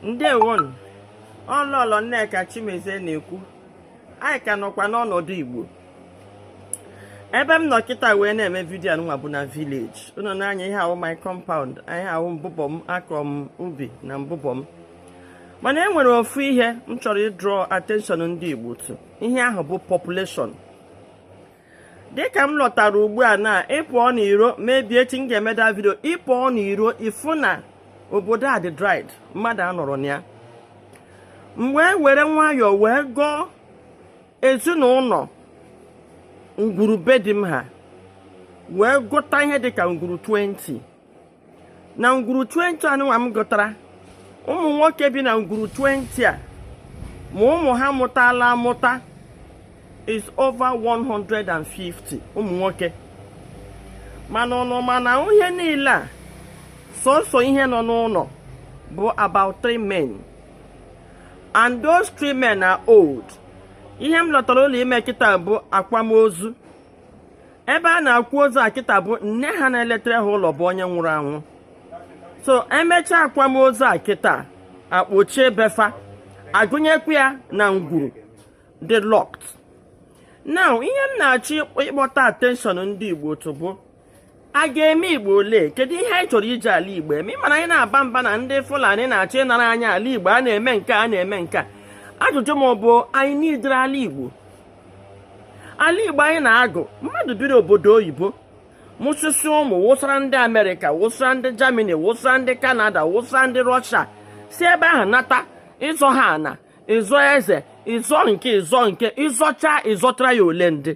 ndewonu ọ lọlọ nneka chimezie na-ekwu anyị ka nọkwa n'ọnọdụ igbo ebe m nọ kịta wee na-eme vidiyo nwa bụ na vileji ụnọ nna anyị ihe a wụ my compound ihe a wụ mbụbọ m akọ m ubi na mbụbọ m mana e nwere ofu ihe m chọrọ ịdrọ attention ndị igbo to ihe ahụ bụ population dịka m lọtara ugbu a na ị pụọ n'iro maybe echi m ga-eme that vidio ị pụọ n'iro ị fụ na obodo a dị dried mmadụ anọrọ na ya m wee were nwayọọ wee gụọ ezinụlọ ngwuru be di m ha wee gụta ihe dịka ngwuru 20 na ngwuru 20 anụnwa m gụtara ụmụ nwoke bi na ngwuru 20 a ma ụmụ ha mụtala amụta is over 150 ụmụ nwoke mana ụnụ ma na n'ihe niile a sọsọ ihe nọ n'ụlọ bụ about three men and those three men are old ihe m lọtara ụlọ ime kịta bụ akwamozu ebe a na-akwa ozu a kịta bụ nne ha na-eletere ha ụlọ bụ onye nwụrụ anwụ so e mechaa akwamozu a kịta a kpochie be fa a gụnyekwa ya na ngwuru dị locked now ihe m na-achọ ịkpọta attention ndị Igbo to bụ a ga-eme igbo olee kedu ihe anyị chọrọ iji ala igbo eme ị ma na anyị na-aba mba na ndị fulani na-achọ ịnara anyị ala igbo a na-eme nke a na-eme nke a ajụjụ m bụ anyị n'idere ala igbo ala igbo anyị na-agụ mmadụ biri obodo oyibo mụsịsịa ụmụ wụsara ndị amerịka wụsara ndị jamani wụsara ndị kanada wụsara ndị rọshia si ebe ahụ nata ịzọ ọha na ịzọ eze ịzọ nke a ịzọ nke a ị zọchaa ị zọtara ya olee ndị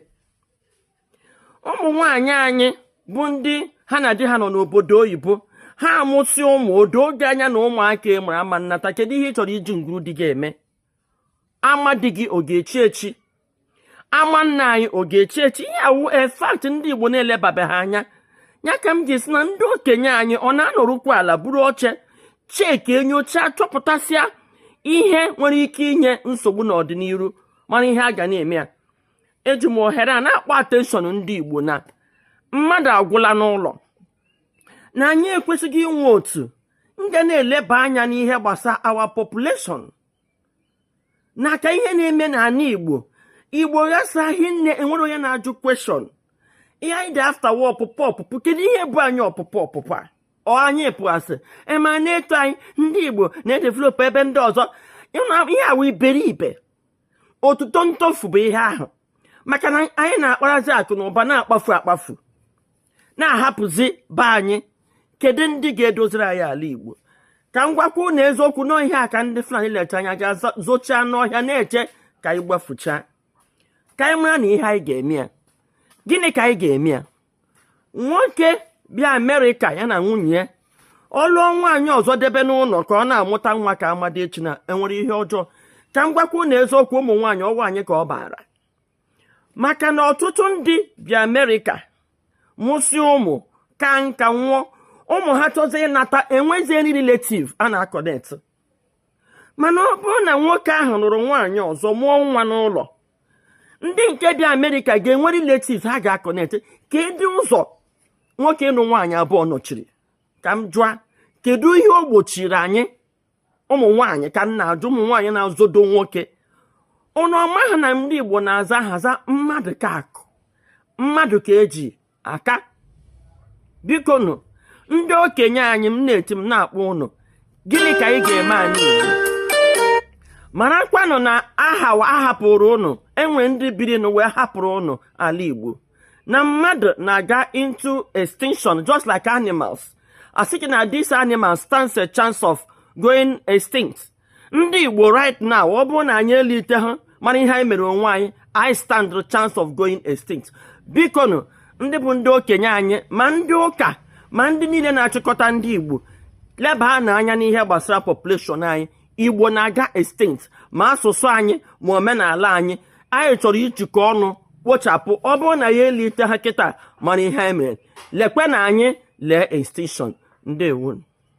ụmụ nwanyị anyị bụ ndị ha na di ha nọ n'obodo oyibo ha amụsịa ụmụ ọ doo gị anya na ụmụaka ị mụrụ ama nnata kedu ihe ị chọrọ iji ngwuru di gị eme ama di gị ọ ga-echi echi ama nna anyị ọ ga-echi echi ihe a wụ a fact ndị Igbo na-elebabeha anya ya ka m ji sị na ndị okenye anyị ọ na-anọrụkwa ala buru oche chekie nyochaa chọpụtasịa ihe nwere ike inye nsogbu n'ọdịnihu mara ihe a ga na-eme ya eji m ohere a na-akpọ atenshọn ndị Igbo na mmadụ agwụla n'ụlọ na anyị ekwesịghị inwe otu ndị ga na-eleba anya n'ihe gbasara our population na ka ihe na-eme n'ala igbo igbo ghasa hinne e nwere onye na-ajụ kweshọn ihe anyị dị afta wụ ọpụpụ ọpụpụ kedu ihe bụ anyị ọpụpụ ọpụpụ a ọ anyị pụasịa a ma na-eto anyị ndị igbo na-edevelopụ ebe ndị ọzọ ihe a wụ iberibe otuto ntofu bụ ihe ahụ maka na anyị na-akparazi akụ na ụba na-akpafu akpafu na-ahapụzi be anyị kedu ndị ga-edoziri anyị ala Igbo ka m gwakwa na eziokwu n'ihe a ka ndị Fulani lecha anya ga zochaa n'ọhịa na-eche ka anyị gbafuchaa ka anyị mara na ihe anyị ga-eme ya gịnị ka anyị ga-eme ya nwoke bịa Amerịka ya na nwunye ya ọ lụọ nwaanyị ọzọ debe n'ụlọ ka ọ na-amụta nwa ka amadi echi na enwere ihe ọjọọ ka m gwakwa na eziokwu ụmụ nwaanyị ọ wụ anyị ka ọ baara maka na ọtụtụ ndị bi amerịka mụsị ụmụ ka nka nwụọ ụmụ ha chọzi ịnata enweziri relative a na-aconnect mana ọ bụrụ na nwoke ahụ lụrụ nwaanyị ọzọ mụọ nwa n'ụlọ ndị nke bi amerịka ga-enwe relative ha ga-aconnect kedu ụzọ nwoke ịnụ nwaanyị abụọ nọchiri ka m jụa kedu ihe o gbochiri anyị ụmụ nwaanyị ka m na-ajụ ụmụ nwaanyị na-azọdo nwoke ụnụ amaha na ndị Igbo na-aza aha za mmadụ ka akụ mmadụ ka eji aka biko nụ ndị okenye anyị m na-eti m na-akpọ ụnụ gịnị ka anyị ga-eme anyị marakwanụ na aha ahapụrụ ụnụ enwe ndị biri nụ wee hapụrụ ụnụ ala Igbo na mmadụ na-aga into extinction just like animals a sị gị na these animals stands a chance of going extinct ndị igbo right now ọ bụrụ na anyị eliteha mara ihe anyị mere onwe anyị anyị stand the chance of going extinct biko nụ ndị bụ ndị okenye anyị ma ndị ụka ma ndị niile na-achịkọta ndị igbo lebanụ anya n'ihe gbasara population anyị igbo na-aga extinct ma asụsụ anyị ma omenala anyị anyị chọrọ ijikọ ọnụ kpochapụ ọ bụrụ na anyị eliteha kịta mara ihe anyị mere lekwenụ anyị lee extinction ndewo